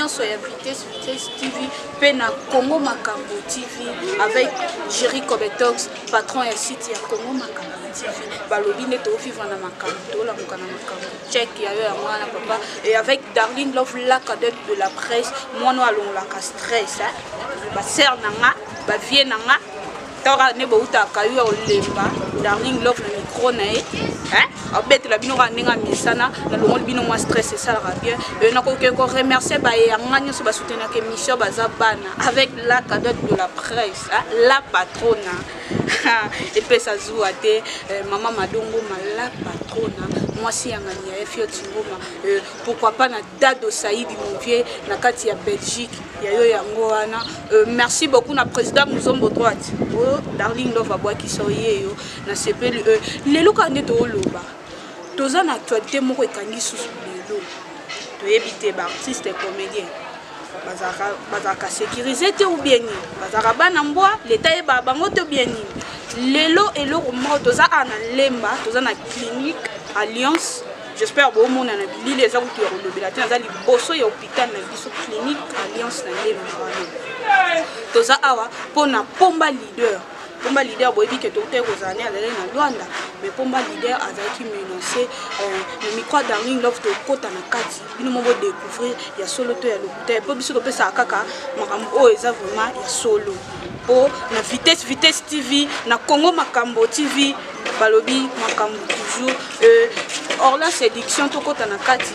nyonso ya vitesse vitesse tv mpe na congo makambo tv avec géri cobetox patron ya site ya congo makambo tv balobi nde tovivre na makambo tolamuka na makambo check ya yo yango wana papa et avec darling love la cadette de la presse mwana oyo alongolaka stress basere na nga bavie na nga tawaka nde boutaka yo ya olemba darling love na micro na ye abetela bino kaka ndenge ya misana nalongoli bino mwa stress esalaka bien e nakoki koremercie baye yanga nyonso basoutenaka émission baza bana avec la cadote de la presse la patrona epesa zuwa te eh, mama madongo mala patrona mwasi ya ngani ya efio tingoma eh, pourquoi pas na dado saidi monvie na kati ya belgique ya yo yango wana eh, merci beaucoup na président muzombo droite o oh, darling love abwakisa oyeyo na sepeli lelo kaka nde tooloba Toza na actualite moko ekangi susu lelo toyebi te ba artistes comediens bazalaka bazalaka securise te ou bien nini bazalaka bana mbwa leta yeba bango to bien nini lelo eloko moko toza awa na lemba toza na clinique alliance j'espère bomona na bilili eza kutu ya kolobela te naza liboso ya hôpital na biso clinique alliance na lemba wana toza awa mpo na pomba leader pomba leader boyebi ke toutaki kozala nde azalaki na luanda mais pomba leader azalaki menance euh, na micro ya darling love tokota na kati bino mo bodecouvrir ya solo to ya lokuta mpo biso topesaka kaka makambo oyo oh, eza vraiment ya solo mpo na vitesse vitesse tv na congo makambo tv balobi makambo toujours euh, orla séduction tokota na kati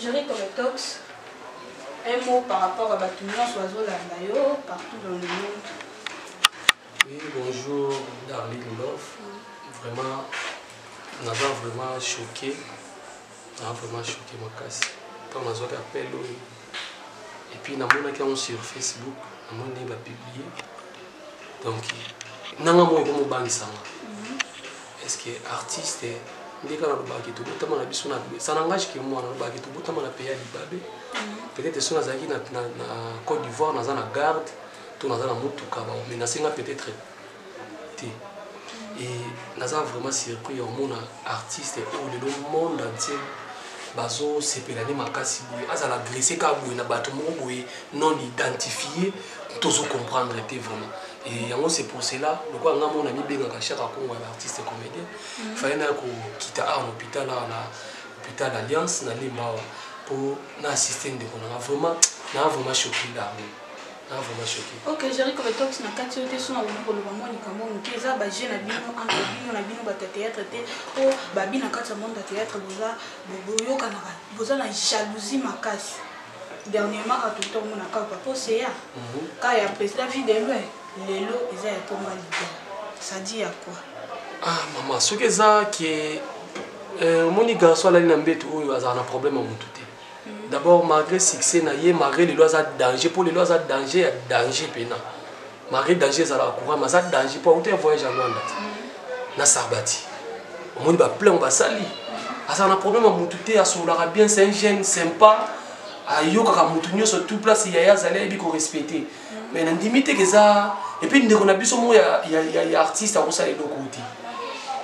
Jerry Cometox, un mot par rapport à bato nyonso bazolanda yo partout dans le monde. Oui, bonjour Darlene Love. Vraiment, naza vraiment choqué. Naza vraiment choqué makasi. Ntango nazwaki appel oyo. Et puis namonaki yango sur Facebook, namoni ndenge bapublie. Donc, nanga moko ekomobangisa nga. Est ce que artiste nde kaka nalobaka ke tobotama na biso na ça n'engage que moi nalobaka ke tobotama na pays ya libabe mhm. peut-être soki nazalaki na, na, na Côte d'Ivoire naza na garde to naza na motuka bamenase nga peut-être te mhm. et naza vraiment surpris ya omona artiste oyo lelo monde entier bazosepela nde makasi boye azala agresse kaka boye na bato moko boye non identifie tozo comprendre te vraiment Et yango c'est pour cela lokola nga mo na mibengaka Shaka Kongo ya artiste comédien mm. fallait na ko kita awa na hôpital awa na hôpital Alliance na Limba awa po na assister ndeko na nga vraiment na vraiment choqué là na vraiment choqué OK Jerry comme toi tu na kati yote sona ko ko loba moni kamo muke eza ba jeu na bino entre bino na bino ba théâtre te po ba bina kati ya monde ya théâtre boza boyoka na boza na jalousie makasi Dernièrement à tout on a quand papa Océa, quand il y a président vie de loin, lelo eza ya pomba leader. Ça dit ya quoi? Ah maman, ce que ça qui est euh, omoni garçon alali na mbetu oyo azala na problème ya mutu te mm. d'abord malgré succès na ye malgré lelo aza danger mpo lelo aza danger ya danger mpena Marie Danger ezalaka courant maza danger po auta voyage ya Rwanda na Sarbati omoni ba plein basali azala na problème ya mutu te asololaka bien c'est un jeune sympa ayokaka mutu nyonso tout place yaya azali ayebi korespecte mais nandimi te keza epuis ndeko na biso moko ya, ya, ya, ya artiste akosala eloko te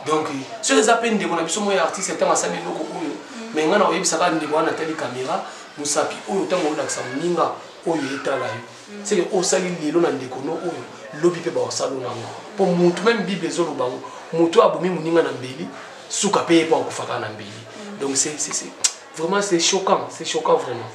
donc soki eza mpe ndeko na biso moko ya artiste ntango asali eloko oyo mais ngai na oyebisaka ndeko wana atali caméra mosapi oyo ntango olakisa moninga oyo etala yo mm. seke oyo osali lelo na ndeko no oyo lobi mpe bakosala oyo nango mpo motu meme bible ezoloba yango motu oyo abomi moninga na mbeli suka mpe ye mpo akofaka na mbeli mm. donc vraiment c'est choquant c'est choquant vraiment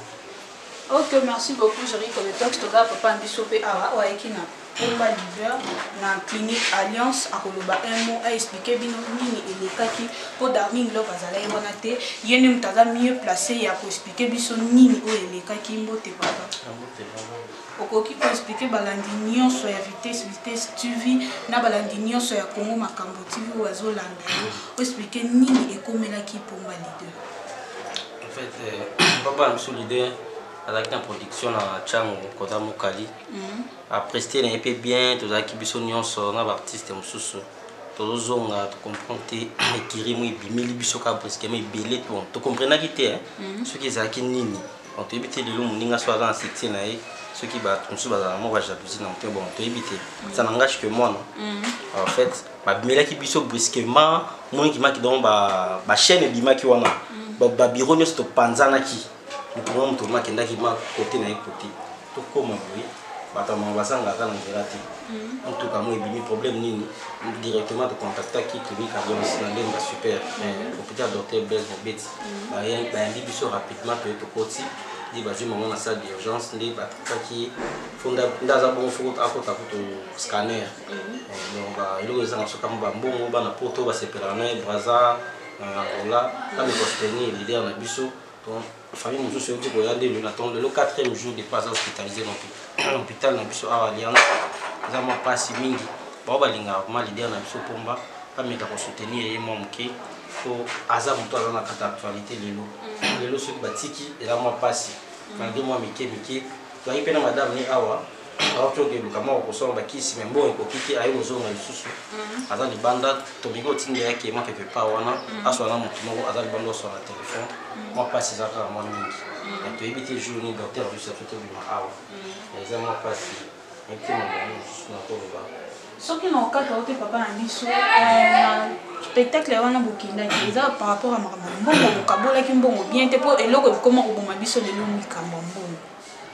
ok merci beaucoup jeri kometox toza papa na biso mpe awa oyo ayeki na pomba liver na clinique alliance akoloba un mot aexplike bino nini elekaki mpo darling love azalaki wana te ye nde moto aza mieux place ya koexplike biso nini oyo elekaki mbote papa okoki ko expliquer balandi nyonso ya vitesse vitesse tv na balandi nyonso ya congo makambo tv oyo azolanda yo oexplike nini ekomelaki pomba leader en fait euh, papa na biso leader azalaki na production na chango kota mokali mhm. apreste na ye mpe bien tozalaki biso nyonso na baartiste mosusu tozozonga tocomprendre te ekiri mo ebimeli biso kaka brusquement ebele tocomprenaki te mhm. soki ezalaki nini Bon, toyebi te lelo moninga so aza na succès na ye soki bato mosusu bazalaka moko bajalousie na moto bon toyebi te ça n'engage que moi non mm. en fait babimelaki biso brusquement moni kimaki donc bachaîne ba ebimaki wana mm. babiro nyonso topanzanaki moto mwa moto ma akendaki ma kote na ye kote tokoma boye bato ya mama bazangaka na nzela te motuka mo ebimi problème nini directement tocontactaki clinique alliance na ndenge ya super hôpital docteur blaise mobeti bayambi biso rapidement mpe tokoti nde bazwi mango na salle d'urgence nde batakaki nde aza bongo fo akota kutu scanner mhm. eh, donc eloko ezanga biso kama bambongo bana poto basepelaka na ye braza na angola kami kostenir leader na biso donc famille mosusu euti koya nde lelo ntongo lelo quatrième jour depuis aza hospitalisé na hôpital na biso awa alliance eza mwa mpasi mingi bao balingaka vraimen leader na biso mpomba bameka kosoutenir ye mwa moke po aza moto aza na kata actualite lelo mm. lelo soki batiki eza mwa mpasi mm. malgre mwa mike mike toyaki mpe na madame ni awa awaki okeluka mwa okosala bakisi me mbongo ekoki te aye kozonga lisusu mm. aza libanda tobiki otindela yake mwa quelque part wana aswa na moto moko aza libanda oswa na telefone mwa mpasi eza kaka mwa mingi toyebi te jour nini docteur biso ato tobima awa eza mwa mpasi Mitema na yo mosusu na koloba. Soki na okata ote papa na biso euh, spectacle wana bokendaki eza par rapport ya makambo ya mbongo bokabolaki mbongo bien te mpo eloko ekoma koboma biso lelo mikambo ya mbongo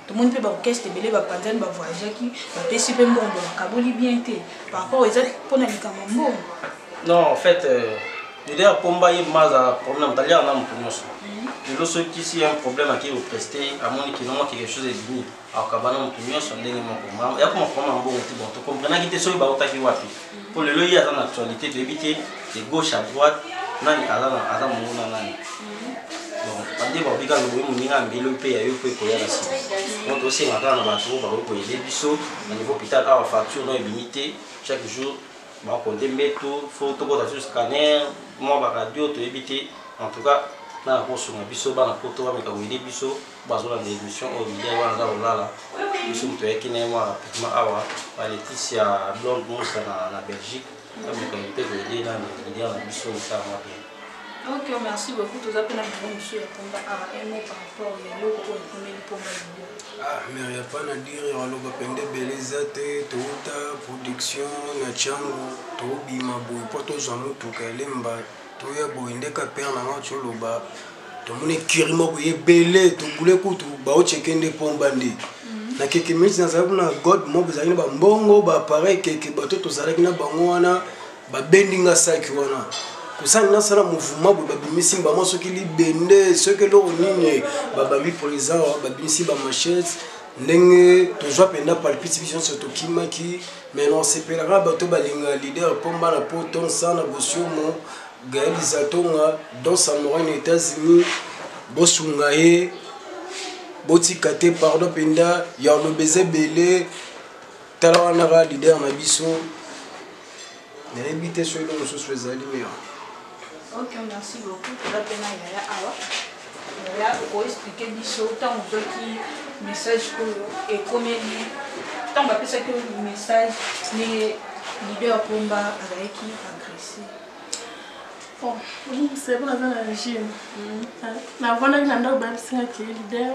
tomoni mpe baorchestre ebele bapanzani bavoyageaki bapesi mpe mbongo bakaboli bien te par rapport eza mpo na likambo ya mbongo non en fait euh, leader pomba ye maza problème taliaka na moto nyonso mhm. lelo soki si un problème akei kopreste amoni kinongo quelque chose ebimi akabana moto nyonso ndenge moko yako makoma mbongo te bon tocomprenaki te soki bautaki wapi mpo lelo ye aza na actualité toyebi te de gauche à droite nani aza mongo na nani bon bande babika loboyi moninga mbelo mpe ya yo mpo ekoya na nsima donc tosenga kaka na bato oyo bakoki koyede biso na niveau hôpital awa facture no ebimi te chaque jour bakonte mbeto fo tokota sur scanner mwa baradio toyebi te en tout cas na nakosunga biso bana poto bameka koyede biso bazolanda emission oyo bilia wana aza kolala biso moto ayaki na ye mwa rapidement awa balekisi ya blonde mosa na, na belgique ameka mpe koyede na bilia na biso misala mwa bien ok merci beaucoup toza mpe na biro mosusu ya pomba awa emo par rapport ya eloko oyo ekomeli pomba libio ah, mer ya pa na dire aloba pende ebele eza te touta production na tiango tobima boye mpo tozwa motuka elemba Toya boye nde ka père na nga tsho loba. Tomoni ekiri moko ye bele to bule kutu ba ocheke nde pomba nde. Mhm. Na keke minutes na zalaki na god moko zalaki na ba mbongo ba appareil keke bato to zalaki na bango wana ba bendi nga saki wana. Kosani na sala mouvement bo babimisi mbama soki libende soki eloko nini ba bambi president ba bimisi ba machettes ndenge tozwa penda palpite biso nso tokimaki Mais non sepelaka bato balinga leader pomba na poto nsana bosiomo Gaël Izatonga Don Samouraï na Etats-Unis bosunga ye botika te pardon mpenza ya oloba eza ebele tala wanaka leader na biso nayebi te soki eloko mosusu ezali mea Ok, merci beaucoup. Toza pe na yaya awa. Yaya oko expliquer biso ntango ozwaki message oyo ekomeli ntango bapesaki yo message ndenge leader pomba azalaki agresse bon omibisa ye mpo naza na regime navandaki na ndako bayebisingaki leader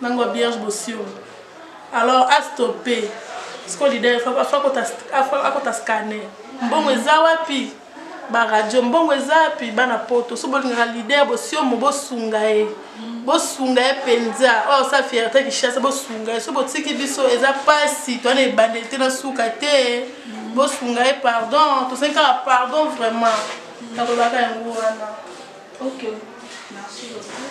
Nango bierge bosio. Alors a stopper. Siko leader faut pas faut akota scanner. Mbongo eza wapi? Ba radio mbongo eza wapi? Bana poto so bolingaka leader bosio mo bosunga ye. Bosunga ye penza. Oh sa fierté Kinshasa bosunga ye. So botiki biso eza pasi to na ebandeli te na suka te. Bosunga ye pardon. To senka pardon vraiment. Nakolaka yango wana. Okay. Merci beaucoup.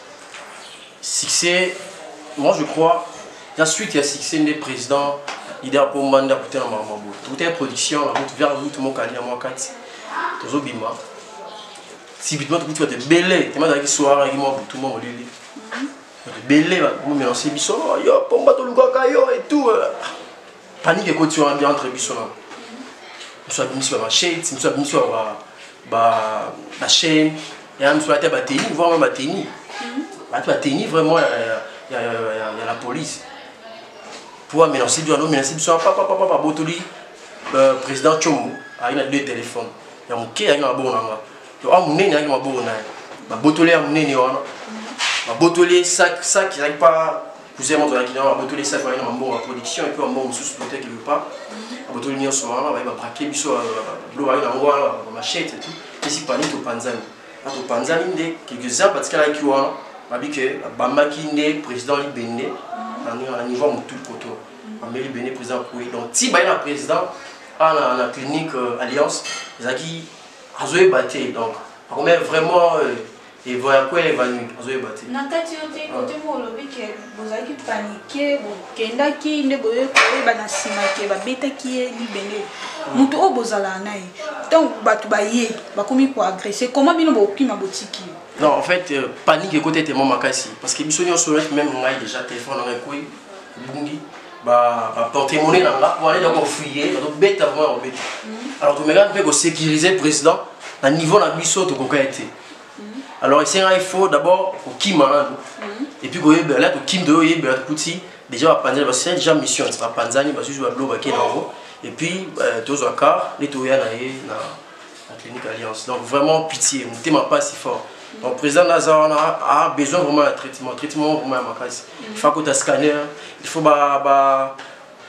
succès moi je crois la suite ya succès nde président leader mpo mbanda kuta na makambo boye tokuta ya production na mutu vers mutu mokali na mwa kati tozobima subitement tokuti bato ebele tema azalaki soir ayaki mwa butu mwa molili bato ebele bakomelanse biso yo pomba tolukaka yo etout panique ekoti wana nde entre biso na mosu abimisi bamachete mosu abimisi bachaine ya mosu ata bateni vraiment bateni batu bateni vraiment ya la police mpo amenance biso anomenase biso papapapa babotoli euh, président tshombo ayaki na deux téléphone ya moke ayaki na maboko na nga to a monene ayaki na maboko na ye babotoli ya monene wana babotoli ye sak sak ezalaki pa cousin moto azalaki na abotoli esaki wana na bambongo ya production epuis bambongo mosusu peut-être quelque part abotoli nyonso wana baye babrake biso bilo baye nango wana bamachete tout pesi pani topanzani na topanzani nde quelques heures batikalaki wana babi ke abambaki nde président libende na niveau ya motu koto ameli libende président kue donc ti baye na président ana na clinique euh, alliance ezalaki azoyeba te donc akomela vraiment euh, Evo ya kwele evandi ozoyeba te. Na kati yo te kote mo olobi ke bozalaki panike bokendaki nde boye koyeba na nsima ke babetaki ye libende moto oyo bozalaka na ye ntango bato baye bakomi koagrese koma bino bokima botiki yo Non, en fait, euh, panique et côté tellement makasi. Parce que biso nyo soyez même on a déjà téléphone on a quoi bungi ba ba porter monnaie là là pour aller donc fouiller donc bête vraiment bête. Alors tu me regardes peu ko sécuriser président na niveau na biso to ko été. alors esengaki fo d'abord kokima nanu et puis koyebela la tokimi toyoyebela tokuti déjà bapanzani basali déjà mission bapanzani basusu bablo bake na yango et puis euh, tozwa car nde toya na ye na clinique alliance donc vraiment pitié motema mpasi fort donc président naza wana a besoin vraiment ya traitement traitement vraiment ya makasi il faut akota scanner il faut ba, ba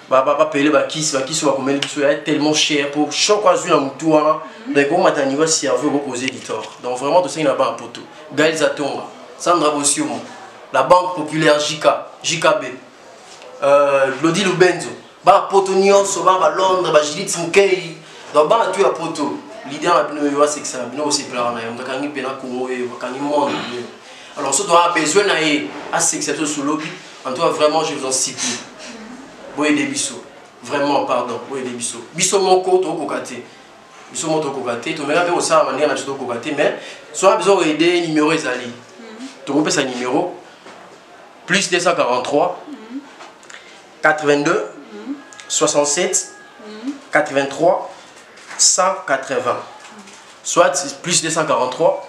ba ba ba pele ba kisi ba kisi ba komeli biso ya tellement cher pour choc azui na mutu wana mais ko mata niveau cerveau ko causer du tort donc vraiment to sengi na ba poto Gaël Zatonga Sandra Bosiomo la banque populaire JK JKB euh Lodi Lubenzo ba poto nyonso ba ba Londres ba Judith Mukei donc ba tu ya poto l'idée na bino yo asekisa na bino osepelaka na ye moto akangi mpena kongo ye akangi monde alors soki toa besoin na ye asekisa biso solobi En tout cas, vraiment, je vous en supplie. Boyede biso. Vraiment, pardon. Boyede biso. Biso moko, to kokate. Biso moko, to kokate. To mera pe osara manière na biso to kokate. Mais, soit besoin d'aider, numéro ezali. To kope sa numéro. Plus 243. 82. 67. 83. 180. Soit plus 243.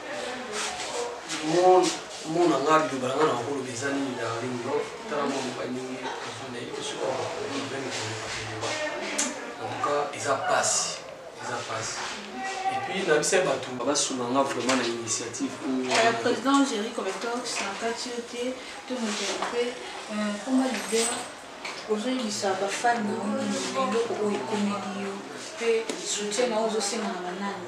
mona nga liloba na nga na makoloba eza nini na linglo tala mwa moka ndenge efanda ye te soki antuka eza mpasi eza mpasi epuis na bisa bato basunga nga vraiment na initiative euh, président géri cometox na kati yo te to moto ya mpe koma euh, lider ozoyebisa bafani na yo nini eloko oyo ekomeli yo mpe soutien na yo ozosenga na banani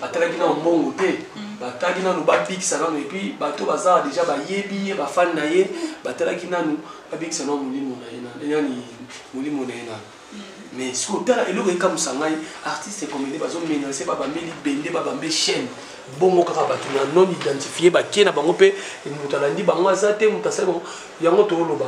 batalaki nano mbongo te batalaki nano babikisa nano epuis bato bazala deja bayebi ye bafani na ye batalaki nano babikisa nao molimo na ye nani molimo na ye nano mais sikoyo tala eloko ekamwisa ngai artiste comédie bazomenase babambe libende babambe chaîne bongo kaka bato na non identifie bakie na bango mpe moto alandi bango aza te moto asali bango yango tooloba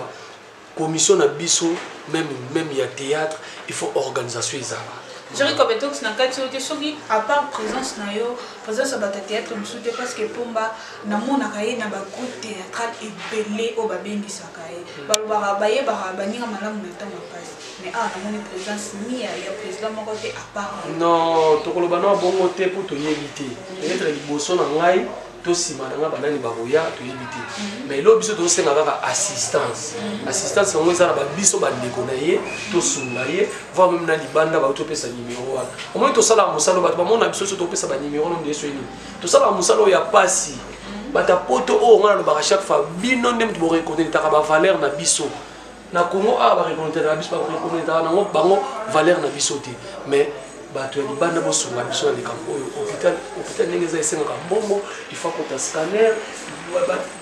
Commission na biso meme meme ya theatre il faut organisation ezala. Jerry Kobetox na kati yo te soki à part présence na yo présence ya bato ya théâtre mosusu te parce que Pomba namonaka ye na ba groupe théâtral ebele oyo babengisaka ye hmm. balobaka bayebaka baninga malamu na ntango ya mpasi mais awa namoni présence ni ya président moko te à part non tokoloba na bongo te mpo toyebi te peut-être liboso na ngai to sima na nga banani bakoya toyebi te mhm. mais eloo biso tozosenga kaka assistance mhm. assistance yango eza na babiso bandeko na ye tosunga ye voir meme na libanda bayo topesa nimero wana omoi tosalaka mosala bato bamona biso so topesa banimero no ndeso nini tosalaka mosala oyo ya pasi mhm. bata poto oyo ngai nalobaka chaque fois bino nde moto borekonetaka bavaleur na biso na congo awa bareconnaitaka biso bareconnaitaka nango bango valeur na biso te mais bato ya libanda bosunga biso na likambo oyo hôpital hôpital ndenge eza esengaka mbongo ifa kota scanner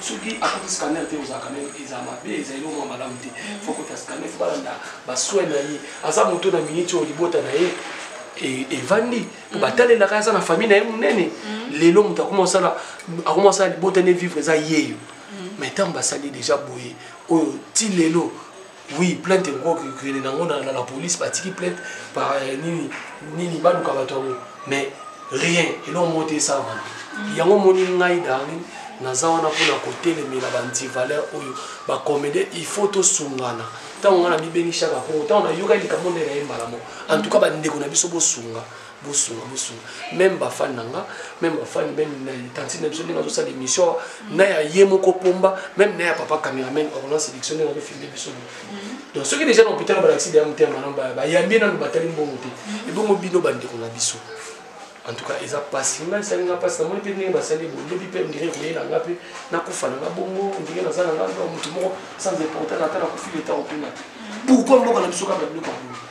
soki akoti scanner te ozalaka na eza mabe eza eloko mwa malamu te fo kota scanner fo balanda basoin na ye aza moto na miniti oyo libota na ye e, evandi mpo mm. batalelaka aza na famille na ye monene mm. lelo moto akoma osala libota ne vivre eza yeyo mais ntango basali deja boye oyo ti lelo oui plainte ekoki kokende nango na la police batiki plainte par euh, nini nini baluka bato yango mais rien eloko moko te esalama mm. yango omoni ngai darling naza wana mpona kotelemela bantivaleur oyo bacomédien il faut tosungana ntango ngai namibengi shaka kongo ntango nayokaki likambo nde na ye mbala moko en tout cas bandeko na biso bosunga bosunga bosunga meme bafani na nga meme bafani meme na tantine na biso ndenge azosala émission mm. na ya ye moko pomba meme na ya papa cameraman orlan sélection ndenge azofilme biso mm. donc soki déjà na hôpital balakisi deya motema malamu bayambi ye nanu batali mbongo te mm. ebongo bino bandeko na biso en tout cas eza mpasi ngai esali nga mpasi namoni mpe ndenge basali bo lobi mpe ndire koyela nga mpe nakufa na nga bongo ndenge naza na nga motu moko sans importance ata nakufi leta kopena pourkoi mboka na biso kaka biloko yango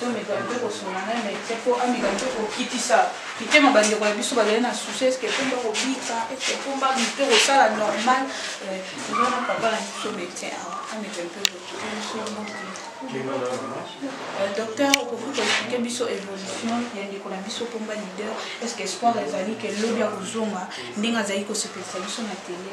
tomeka mpe kosunga na mete mpo ameka mpe kokitisa mitema bandeko na biso bazali na susi eske mpomba kobika eske mpomba mito kosala normal ozana eh, papa na biso mete awa ameka mpe euh, docteur okoki koexplike biso évolution ya ndeko na biso mpomba leader eske espoir ezali ke lobi ya kozonga ndenge azali kosepelisa biso na tele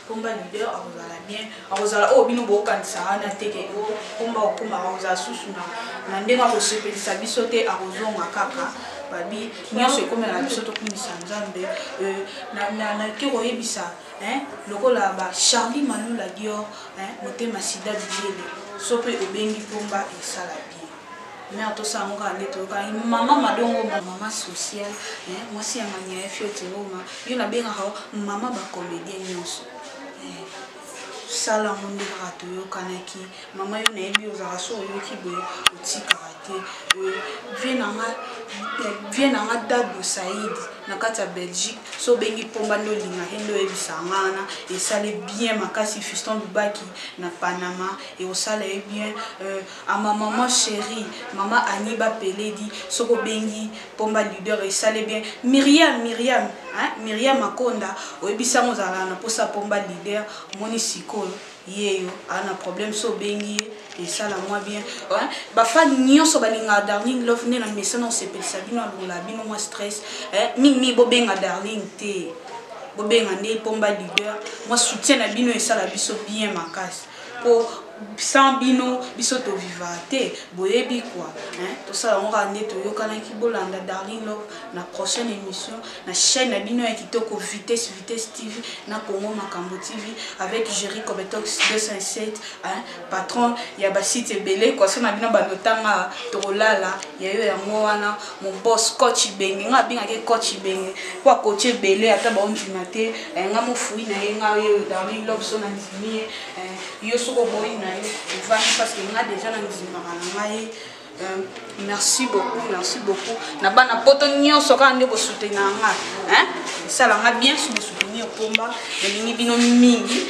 Pomba leader akozala bien akozala oyo oh, bino bokokanisa wana te ke o oh, pomba okoma akozala susu na na ndenge akosepelisa biso te akozonga kaka babi nyonso ekomela na biso tokumisa nzambe euh, nake koyebisa lokola ba charlie malula dior motema sida bilele so mpe obengi pomba esala bien Mère to sango kaka nde toyokani maman madongo ma maman social eh, mwasi ya mania ya fioti ngoma yo nabengaka yo maman ba comédien nyonso eh, sala yango nde kaka toyokanaki mama yo nayebi ozalaka so oyoki boye otikaka te eh, vie na nga eh, vie na nga dado said na kati ya belgique so obengi mpomba nde olinga he nde oyebisa nga wana esali bien makasi fiston lubaki na panama ekosala ye bien euh, Ah ma maman cherie maman Annie ba peledi soki obengi pomba leader esale bien Myriam Myriam hein Myriam Makonda oyebi sango ozalaka na posa pomba leader omoni sikoyo yeyo a na problème so obengi ye esala mwa bien hein ba fan nionso balinga darling love nde na mesana osepelisa bino alongola bino mwa stress hein mingi mingi bobenga darling te bobenga nde pomba leader mwa soutien na bino esala biso bien makasi Po sans bino biso to vivaka te boyebi quoi hein tosala yango kaka nde toyokanaki bolanda darling love na prochaine emission na chaine na bino ya kitoko vitesse vitesse tv na congo makambo tv avec Jerry Kobetox 207 hein patron ya ba sites ebele quoi so na bino bando tanga tokolala ya yo yango wana Mon boss coach ibenge nga abengaki ye coach ibenge mpo akoche ebele ata baondima te eh, nga mofui na ye nga oyo darling love so nandimi ye eh, yo soki oboyi na yo ovandi parce que nga deja nandimaka na ngai eh, merci beaucoup merci beaucoup na bana poto nyonso kaka nde bosutena nga esala nga bien so bosuteni opomba nalingi bino mingi